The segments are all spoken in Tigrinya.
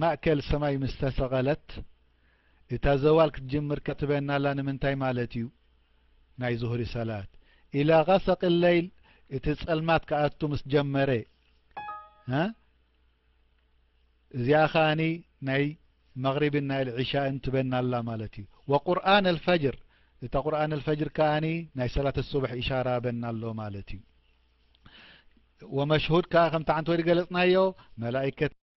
ማእከል ሰማይ ምስ ተሰቐለት እታ ዘዋል ክትጅምር ክትበን ኣላ ንምንታይ ማለት እዩ ናይ ዙህሪ ሰላት ኢላ ቐሰቂ ለይል እቲ ጸልማት ክኣቱ ምስ ጀመረ እ እዚኣ ኸኣኒ ናይ መቕሪብን ናይ ልዒሻእን ትበን ኣላ ማለት እዩ ወቁርን ኣልፈጅር እታ ቁርን ኣልፈጅር ከኣኒ ናይ ሰላት ሱብሒ ኢሻራ በን ኣሎ ማለት እዩ ወመሽሁድ ከኣ ከምቲ ዓንተ ወዲ ገለጽናዮ መላእከት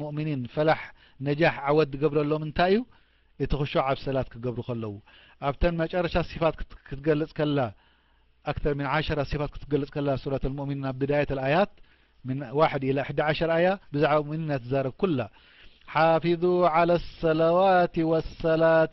ሙእምኒን ፈላሕ ነጃሕ ዓወት ዝገብረሎም እንታይ እዩ እቲ ክሹዕ ኣብ ሰላት ክገብሩ ከለዉ ኣብተን መጨረሻ ሲፋት ክትገልጽ ከላ ኣክተር ምን ዓሸራ ሲፋት ክትገልጽ ከላ ሱረት ልሙእሚኒን ኣብ ብዳየት ልኣያት ምን ዋሕድ ኢላ ሕዲ ዓሸር ኣያ ብዛዕባ ሙእሚኒን እያ ትዛረብ ኩላ ሓፊዙ ዓላ ሰለዋት ወሰላት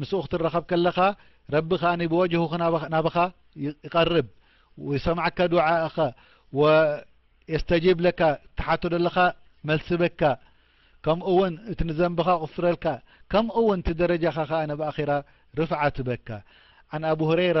ምስኡ ክትራኸብ ከለኻ ረቢ ከኣ ብወጅሁ ናባኻ ይቀርብ ይሰምዓካ ዱዓእኻ ወየስተጂብ ለካ ትሓቶ ዘለኻ መልሲ በካ ከምኡ ውን እቲ ንዘንብኻ ይቕፍረልካ ከምኡ ውን እቲ ደረጃኻ ከኣ ኣብ ኣኺራ ርፍዓት በካ ዓን ኣቡ ሁረይራ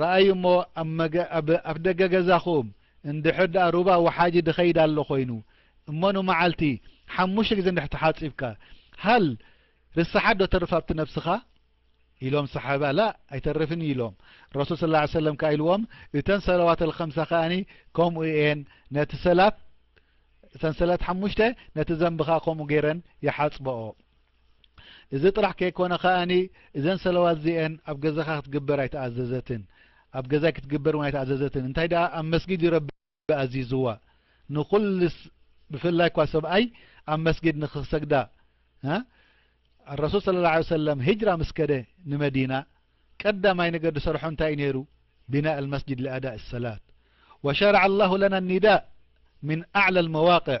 ረኣዩ እሞ ኣብ ኣፍደገ ገዛኹም እንድሕር ደኣ ሩባ ወሓጂ ድኸይድ ኣሎ ኮይኑ እሞ ንመዓልቲ ሓሙሽተ ግዜ እንድሕር ተሓጺብካ ሃል ርሰሓት ዶ ተርፍ ኣብቲ ነብስኻ ኢሎም ሰሓባ ላእ ኣይተርፍን እዩ ኢሎም ረሱል ስ ላ ሰለም ከኣ ኢልዎም እተን ሰለዋት ኣልከምሳ ከኣኒ ከምኡ እየን ነቲ ሰላት እተን ሰላት ሓሙሽተ ነቲ ዘንብኻ ከምኡ ገይረን ይሓጽበኦ እዚ ጥራሕ ከይኮነ ከኣ እዘን ሰለዋት እዚኤን ኣብ ገዛኻ ክትግበር ኣይተኣዘዘትን ኣብ ገዛይ ክትግበር ን ኣይተኣዘዘትን እንታይ ኣ ኣብ መስጊድ ይረቢ ኣዚዝዋ ንኩል ብፍላይ እኳ ሰብኣይ ኣብ መስጊድ ንክሰግዳ ኣረሱል ስለ ላ ሰለም ሂጅራ ምስ ከደ ንመዲና ቀዳማይ ነገር ዝሰርሖ እንታይ እዩ ነይሩ ቢናእ ልመስጅድ ሊኣዳእ ሰላት ወሸርዓ ላሁ ለና ኒዳእ ምን ኣዕላ ልመዋቅዕ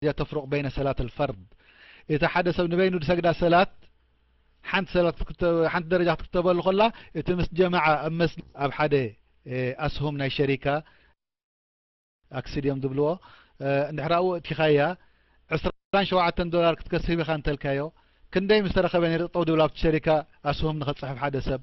እዚኣ ተፍርቕ በይነ ሰላት ኣልፈርድ እቲ ሓደ ሰብ ንበይኑ ዝሰግዳ ሰላት ሓንቲ ሰላት ሓንቲ ደረጃ ክትክተበሉ ከላ እቲ ምስ ጀማዓ ኣብ መስ ኣብ ሓደ ኣስሁም ናይ ሸሪካ ኣክሲድ እዮም ዝብልዎ እንድሕር ኣብኡ እቲኻያ ዕስራን ሸውዓተን ዶላር ክትከስብ ኢኻ እንተልካዮ ክንደይ ምስ ተረኸበ ነይሩ ጠጠው ድብል ኣብቲ ሸሪካ ኣስሁም ንኸፅሕፍ ሓደ ሰብ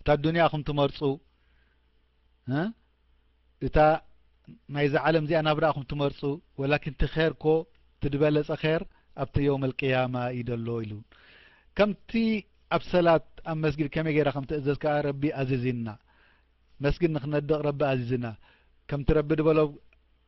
እታ ኣዱንያ ኢኹም ትመርጹ እ እታ ናይዛ ዓለም እዚኣ ናብራ ኢኹም ትመርጹ ወላኪን እቲ ኼር ኮ እቲ ዝበለጸ ኼር ኣብቲ የውም ኣልቅያማ እዩ ደሎ ኢሉ ከምቲ ኣብ ሰላት ኣብ መስጊድ ከመይ ገይራ ከም ትእዘዝ ከኣ ረቢ ኣዚዝና መስጊድ ንክነድቕ ረቢ ኣዚዝና ከምቲ ረቢ ድበሎ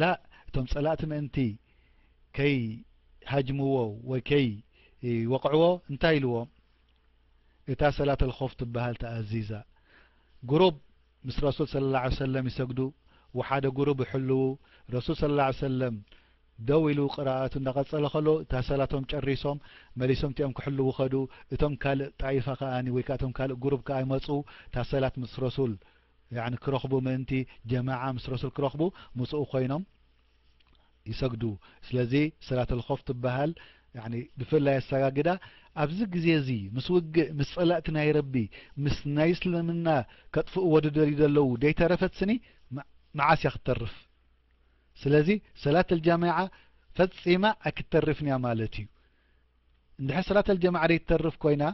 ላእ እቶም ጸላእቲ ምእንቲ ከይ ሃጅምዎ ወይ ከይ ወቕዕዎ እንታይ ኢልዎም እታ ሰላት ኣልኮፍ ትበሃል ተኣዚዛ ጉሩብ ምስ ረሱል ስለ ላ ሰለም ይሰግዱ ወሓደ ጉሩብ ይሕልዉ ረሱል ስለ ላ ሰለም ደው ኢሉ ቅራኣቱ እዳቐጸለ ከሎ እታ ሰላቶም ጨሪሶም መሊሶም እቲኦም ክሕልዉ ኸዱ እቶም ካልእ ጣይፋ ከኣ ወይ ከ እቶም ካልእ ጉሩብ ከኣ ይመፁ እታ ሰላት ምስ ረሱል ያኒ ክረኽቡ ምእንቲ ጀማዓ ምስ ረሱል ክረኽቡ ምስኡ ኮይኖም ይሰግዱ ስለዚ ሰላተል ኾፍ ትበሃል ያኒ ብፍላይ ኣሰጋግዳ ኣብዚ ግዜ እዚ ምስ ውግእ ምስ ጸላእቲ ናይ ረቢ ምስ ናይ እስልምና ከጥፍእዎ ዝደልዩ ዘለዉ ዘይተረፈት ስኒ መዓስ እያ ክትተርፍ ስለዚ ሰላተል ጀማዓ ፈጺማ ኣይክትተርፍን እያ ማለት እዩ እንድሕር ሰላተል ጀማዓ ዘይትተርፍ ኮይና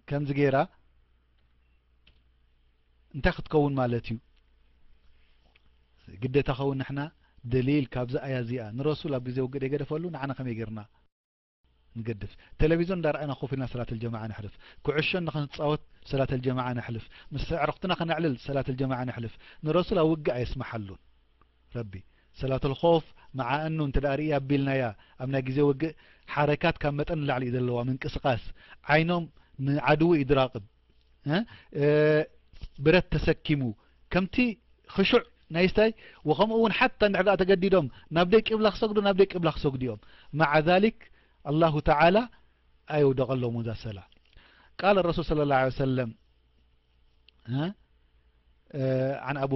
ከምዚ ገይራ እንታይ ክትከውን ማለት እዩ ግዴታ ከውን ንሕና ደሊል ካብዚ ኣያ እዚኣ ንረሱል ኣብ ግዜ ውግእ ደይገደፈሉ ንዓና ከመይ ጌርና ንገድፍ ቴሌቪዞን እንዳረኣና ኮፍ ኢልና ሰላት ልጀማዓ ነሕልፍ ኩዕሾ ንክንፃወት ሰላት ልጀማዓ ነሕልፍ ምስ ኣዕርኽትና ከነዕልል ሰላት ልጀማዓ ነሕልፍ ንረሱል ኣብ ውግእ ኣየስመሓሉን ረቢ ሰላተል ኾፍ መዓ እኑ እንተ ርእይ ኣቢልናያ ኣብ ናይ ግዜ ውግእ ሓረካት ካብ መጠን ንላዕሊ እዩ ዘለዋ ምንቅስቃስ ዓይኖም ንዓድው እዩ ድራቅብ ብረት ተሰኪሙ ከምቲ ክሹዕ ናይ ስታይ ወከምኡ እውን ሓታ እንድሕር ተገዲዶም ናብ ደይ ቅብላ ክሰግዱ ናብ ደይ ቅብላ ክሰግዱ እዮም መዓ ዛሊክ ኣላሁ ተዓላ ኣየውደቀሎም እዛ ሰላ ቃል ረሱል ስለ ላ ሰለም عن أبو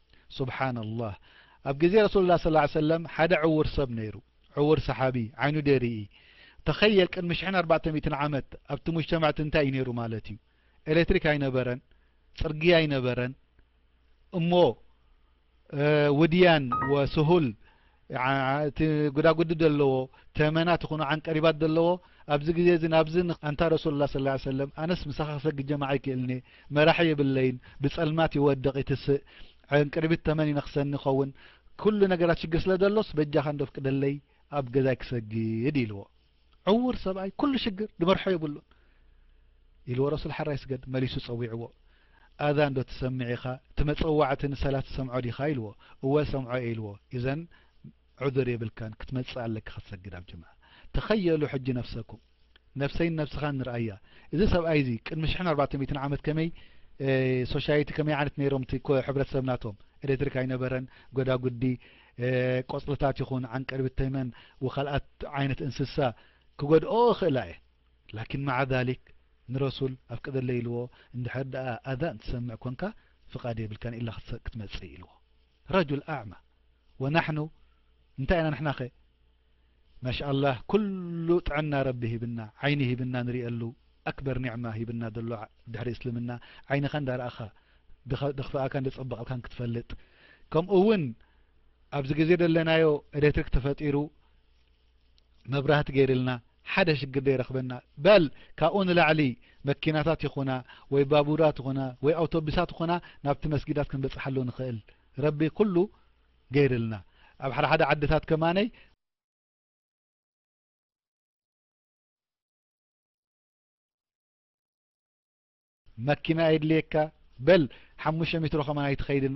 ሱብሓነላህ ኣብ ግዜ ረሱሉላህ ሰለላሁ ዓለይሂ ወሰለም ሓደ ዕዉር ሰብ ነይሩ ዕዉር ሰሓቢ ዓይኑ ደይርኢ ተኸየል ቅድሚ ሽሕን ኣርባዕተ ሚእትን ዓመት ኣብቲ ሙጅተማዕ እቲ እንታይ እዩ ነይሩ ማለት እዩ ኤሌክትሪክ ኣይነበረን ጽርግያ ኣይነበረን እሞ ውድያን ወስሁል እቲ ጉዳጉዲ ደለዎ ተመናት ይኹኑ ዓንቀሪባት ደለዎ ኣብዚ ግዜ እዚ ናብዚ ኣንታ ረሱሉላህ ሰለላሁ ዐለይሂ ወሰለም ኣነስ ምሳኻ ክሰግድ ጀማዓ ኣይክእልን'የ መራሒ የብለይን ብጸልማት ይወድቕ ይትስእ ዕንቅሪቢት ተመን ይነኽሰኒ ይኸውን ኩሉ ነገራት ሽግር ስለ ደሎስ በጃኻ እንዶ ኣፍቅደለይ ኣብ ገዛይ ክሰግድ ኢልዎ ዕውር ሰብኣይ ኩሉ ሽግር ድበርሖ የብሉን ኢልዎ ረሱል ሓራይ ስገድ መሊሱ ጸዊዕዎ ኣዛን ዶ ትሰምዕ ኢኻ እቲ መጸዋዕቲ ንሰላት ትሰምዖ ዲኻ ኢልዎ እወ ሰምዖ እየ ኢልዎ ኢዘን ዑዝር የብልካን ክትመጽእ ኣለካ ክትሰግድ ኣብ ጅምዓ ተኸየሉ ሕጂ ነፍሰኩም ነፍሰይን ነብስኻን ንርኣያ እዚ ሰብኣይ እዚ ቅድሚ ሽሕን ኣርባዕተ ሚእትን ዓመት ከመይ ሶሻይቲ ከመይ ዓይነት ነይሮም እቲ ሕብረተሰብ ናቶም ኤሌክትሪክ ኣይነበረን ጎዳጉዲ ቆጽልታት ይኹን ዓንቀርቢት ተመን ወካልኣት ዓይነት እንስሳ ክጎድኦ ይኽእላ እየ ላኪን ማዓ ዛሊክ ንረሱል ኣፍቅደለይ ኢልዎ እንድሕር ደኣ ኣዛን ትሰምዕ ኮንካ ፍቃድ የብልካን ኢላ ክትመጽእ ኢልዎ ረጁል ኣዕማ ወናሕኑ እንታይ ኢና ንሕናኸ ማሽኣላህ ኩሉ ጥዕና ረቢ ሂብና ዓይኒ ሂብና ንሪኤሉ ኣክበር ኒዕማ ሂብና ደሎ ድሕሪ እስልምና ዓይንኻ እንዳ ረኣኻ ደኽፍኣካን ደጸበቐልካን ክትፈልጥ ከምኡ ውን ኣብዚ ግዜ ደለናዮ ኤሌክትሪክ ተፈጢሩ መብራህቲ ገይርልና ሓደ ሽግር ደይረኽበና በል ካብኡ ንላዕሊ መኪናታት ይኹና ወይ ባቡራት ይኹና ወይ ኣውቶቡሳት ይኹና ናብቲ መስጊዳት ክንበጽሓሉ ንኽእል ረቢ ኩሉ ገይርልና ኣብ ሓደ ሓደ ዓድታት ከማነይ። መኪና የድልየካ በል ሓሙሽተ ሚትሮ ከማን ኣይትኸይድን።